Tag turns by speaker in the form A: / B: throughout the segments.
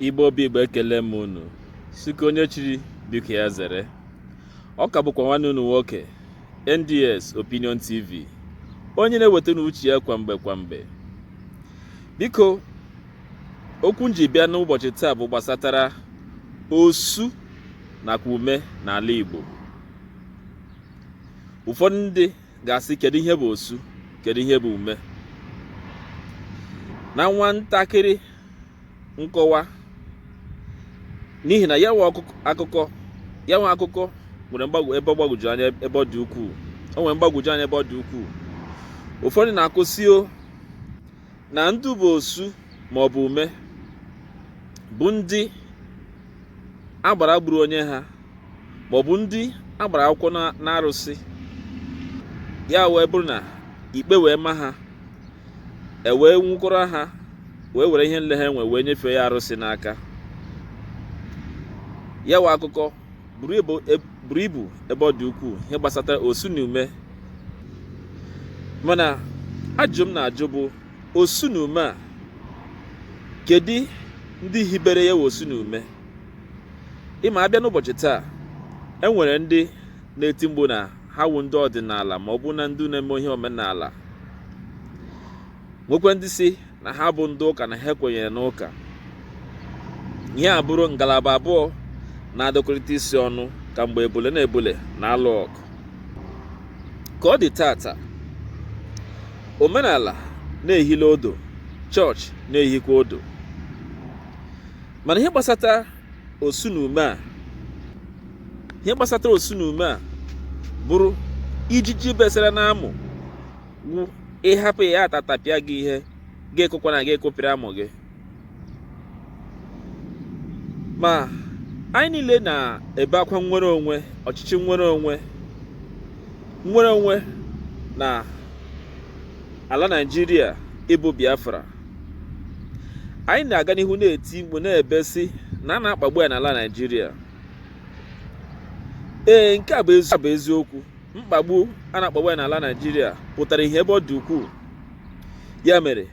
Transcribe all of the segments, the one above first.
A: Igbo bụ Igbo ekele m unu sị nke onye chiri biko ya zere ọ ka bụkwa nwanne unu nwoke NDS Opinion TV onye na-ewetara unu uche ya kwa mgbe kwa mgbe biko okwu m ji bịa n'ụbọchị taa bụ gbasatara osu nakwa ume n'ala Igbo ụfọdụ ndị ga-asị kedu ihe bụ osu kedu ihe bụ ume na nwa ntakịrị nkọwa n'ihi na ya wụ akụkọ ya wụ akụkọ nwere mgbagwo ebe ọ gbagwoju anya ebe ọ dị ukwuu o nwere mgbagwoju anya ebe ọ dị ukwuu ụfọdụ na-akọ sị na ndị bụ osu ma ọ bụ ume bụ ndị agbara gburu onye ha ma ọ bụ ndị a gbara akwụkwọ n'arụsị ya wee bụrụ na ikpe wee ma ha e wee nwụkọrọ ha wee were ihe niile ha nwe wee nyefee ya arụsị n'aka ya wụ akụkọ buru e, ibu ebe ọ dị ukwuu ihe gbasata osu na ume mana ajụjụ m na-ajụ bụ osu na ume a kedu ndị hibere ya wụ osu na ume ị ma a bịa n'ụbọchị taa e nwere ndị na-eti mkpu na ha wụ ndị ọdịnala ma ọ bụ na ndị na-eme ihe omenala nwekwee ndị sị na ha bụ ndị ụka na ha kwenyere n'ụka ihe a bụrụ ngalaba abụọ na-adọkọrịta isi ọnụ ka mgbe ebule na ebule na-alụ ọgụ ka ọ dị taata omenala na-ehila ụdụ chọọchị na-ehikwa ụdụ mana ihe gbasata osu na ume a ihe gbasatara osu na ume a bụrụ ijiji besara n'amụ wụ ị hapụ ya ya atatapịa gị ị ga-akụkwanụ gị akụpịa amụ gị ma anyị niile na-ebe akwa nnwere onwe ọchịchị nnwere onwe nnwere onwe na ala Naịjirịa ịbụ Biafra anyị na-aga n'ihu na-eti mkpu na-ebe sị na a na-akpagbu anyị n'ala Naịjirịa ee nke a bụ eziokwu mkpagbu a na-akpagbu anyị n'ala Naịjirịa pụtara ihe ebe ọ dị ukwuu ya mere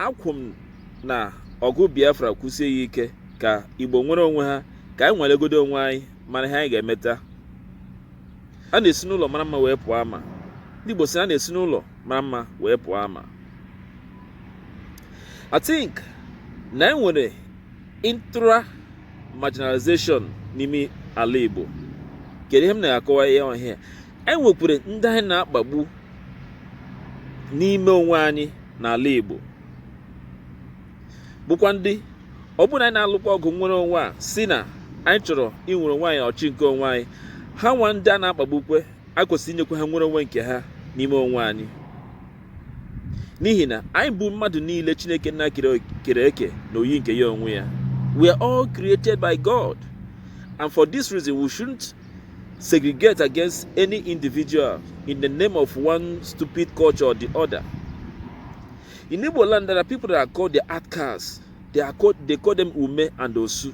A: akwụ m na ọgụ Biafra kwụsie ya ike ka Igbo nwere onwe ha ka anyị nwelegodu onwe anyị mara ihe anyị ga-emeta a na-esi n'ụlọ mara mma wee pụọ ama ndị Igbo sị na a na-esi n'ụlọ mara mma wee pụọ ama I think na enwere intra marginalization n'ime ala Igbo kedu ihe m na-akọwa n'ihe a enwekwere ndị anyị na-akpagbu n'ime onwe anyị n'ala Igbo bụkwa ndị ọ bụrụ na anyị na-alụkwa ọgụ nnwere onwe a sị na anyị chọrọ inwere onwe anyị ọchị nke onwe anyị ha nwa ndị a na-akpagbukwe a kwesịrị inyekwa ha nnwere onwe nke ha n'ime onwe anyị n'ihi na anyị bụ mmadụ niile chineke nna kere eke na oyi nke ya onwe ya we are all created by god and for this reason we shouldn't segregate against any individual in the name of one stupid culture or the other in igbo land there are people that are called the outcasts they call them ume and osu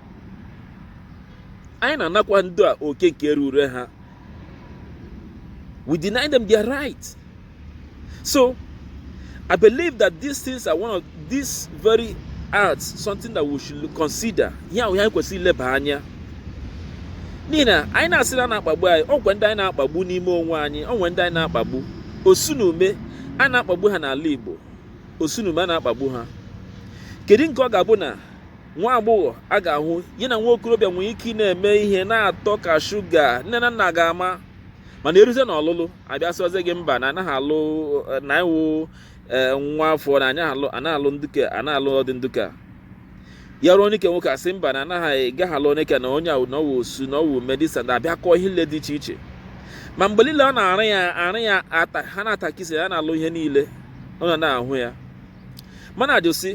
A: anyị na-anakwa ndị a oke nke rure ha we deny them their right so i believe that these things are one of these very acts something that we should consider ihe ahụ anyị kwesịrị ileba anya n'ihi na anyị na-asị na a na-akpagbu anyị o nwekwe ndị anyị na-akpagbu n'ime onwe anyị o nwe ndị anyị na-akpagbu osu na ume a na-akpagbu ha n'ala Igbo osu na ume a na-akpagbu ha kedu nke ọ ga-abụ na nwa agbọghọ a ga-ahụ ya na nwa okorobịa nwere ike ị na-eme ihe na-atọ ka shuga nne na nna ga-ama mana eruzie na ọlụlụ abịa sịwazie gị mba na anaghị alụ na ị wụ e, nwa afọ na anyị anaghị alụ nduke anaghị alụ ụdị nduka ya ruo onye ke nwoke asị mba na anaghị gaghị alụ onye ke na onye ahụ na ọ wụ osu na ọ wụ ume this na abịa kọọ ihe niile dị iche iche ma mgbe niile ọ na-arụ ya arụ ya ata ha na-atakisi ya na-alụ ihe niile ọ na-ahụ ya mana ajụsị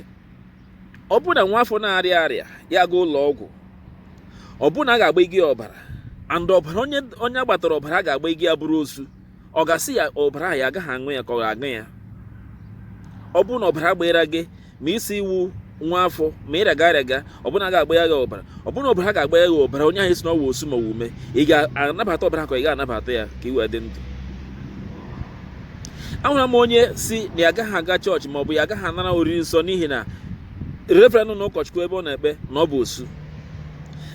A: ọ bụrụ na nwa afọ na-arịa arịa ya gaa ụlọ ọgwụ ọ bụrụ na a ga-agba gị ọbara and ọbara onye agbatara ọbara a ga-agba gị ya bụrụ osu ọ ga-asị ya ọbara ahụ ya agaghị aṅụ ya ka ọ ga-aṅụ ya ọ bụrụ na ọbara gbara gị ma ị sị ị wụ nwa afọ ma ị rịaga arịaga ọ bụrụ na a ga-agba ya gị ọbara ọ bụrụ na ọbara ga-agba ya gị ọbara onye ahụ ị sị na ọ wụ osu ma ọ wụ ume ị ga-anabata ọbara ka ị ga-anabata ya ka ị wee dị ndụ ahụra m onye sị na ya agaghị aga chọọchị maọbụ ya agaghị anara oriri nsọ n'ihi na reverend na ụkọchukwu ebe ọ na-ekpe na ọ bụ osu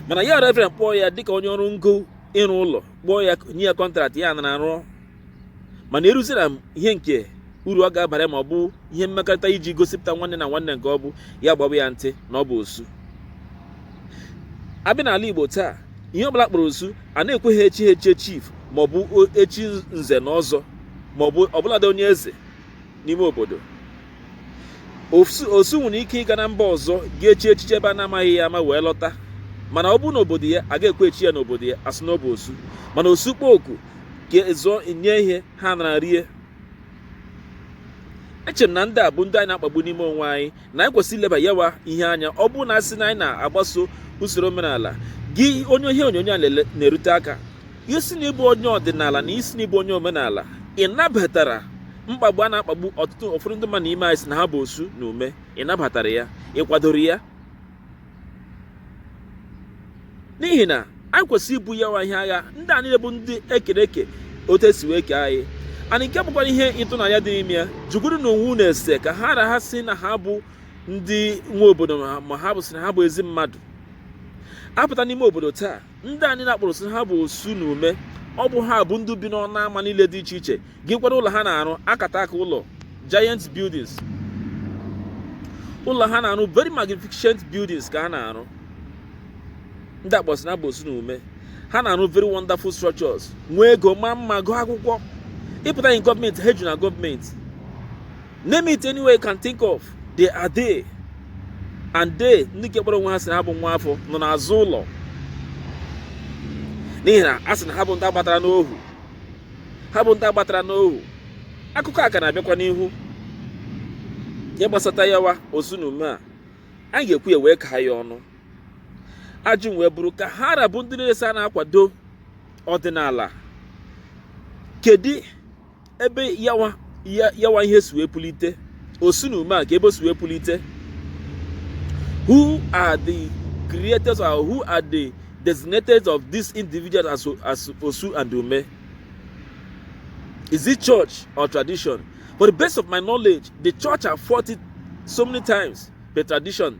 A: mana ya reverend kpọọ ya dịka onye ọrụ ngo ịrụ ụlọ kpọọ ya nye ya kọntraktị ya anara rụọ mana eruziela n'ihe nke uru ọ ga-abara ma ọ bụ ihe mmekọrịta iji gosipụta nwanne na nwanne nke ọ bụ ya agbaba ya ntị na ọ bụ osu abịa n'ala Igbo taa ihe ọbụla kpọrọ osu a na-ekweghị echi ha echie chief maọbụ echi nze na ọzọ maọbụ ọbụladị onye eze n'ime obodo osu nwere ike ịga na mba ọzọ ga-echi echichi ebe a na-amaghị ya ama wee lọta mana ọ bụrụ n'obodo ya a ga-ekwe echi ya n'obodo ya asị na ọ bụ osu mana osu kpọọ oku ka e zuo nye ihe ha anara rie echere m na ndị a bụ ndị anyị na-akpagbu n'ime onwe anyị na anyị kwesịrị ileba yawa ihe anya ọ bụrụ na a sị na anyị na-agbaso usoro omenala gị onye ihe onyonyo a na-erute aka ị sị na ị bụ onye ọdịnala na ị sị na ị bụ onye omenala ị nabatara mkpagbu a na-akpagbu ọtụtụ ụfọdụ ndị mmadụ n'ime anyị sị na ha bụ osu na ume ị nabatara ya ị kwadoro ya n'ihi na anyị kwesịrị ibu yawa ihe agha ndị a niile bụ ndị e kere eke otu e si wee kee anyị anyị nke bụkwara ihe ịtụnanya dị n'ime ya jụgodinụ onwe unu ese ka ha ra ha sị na ha bụ ndị nwe obodo ma ọ bụ sị na ha bụ ezi mmadụ a pụta n'ime obodo taa ndị anyị na-akpọrọ sị ha bụ osu na ume ọ bụ ha bụ ndị bi n'ọnụ ama niile dị iche iche gị kwara ụlọ ha na-arụ akataka ụlọ giant buildings ụlọ ha na-arụ very magnificent buildings ka ha na-arụ ndị a kpọrọ sị na ha bụ osu na ume ha na-arụ very wonderful structures nwee ego ma mma gụọ akwụkwọ ị pụta na gọọmenti ha ju na gọọmenti name it anywhere you can think of they are there and they ndị nke kpọrọ onwe ha sị na ha bụ nwa afọ nọ n'azụ ụlọ n'ihi na a sị na ha bụ ndị a gbatara n'ohu ha bụ ndị a gbatara n'ohu akụkọ a ka na-abịakwa n'ihu ihe gbasata yawa osu na ume a anyị ga-ekwu ya wee kaa ya ọnụ ajụjụ wee bụrụ ka ha ra bụ ndị na-esi a na-akwado ọdịnala kedu ebe yawa ihe si wee pulite osu na ume a ka ebe o si wee pulite who are the creators or who are the designators of these individuals as, as Osu and Ume? Is it church or tradition? For the best of my knowledge, the church have fought it so many times, but tradition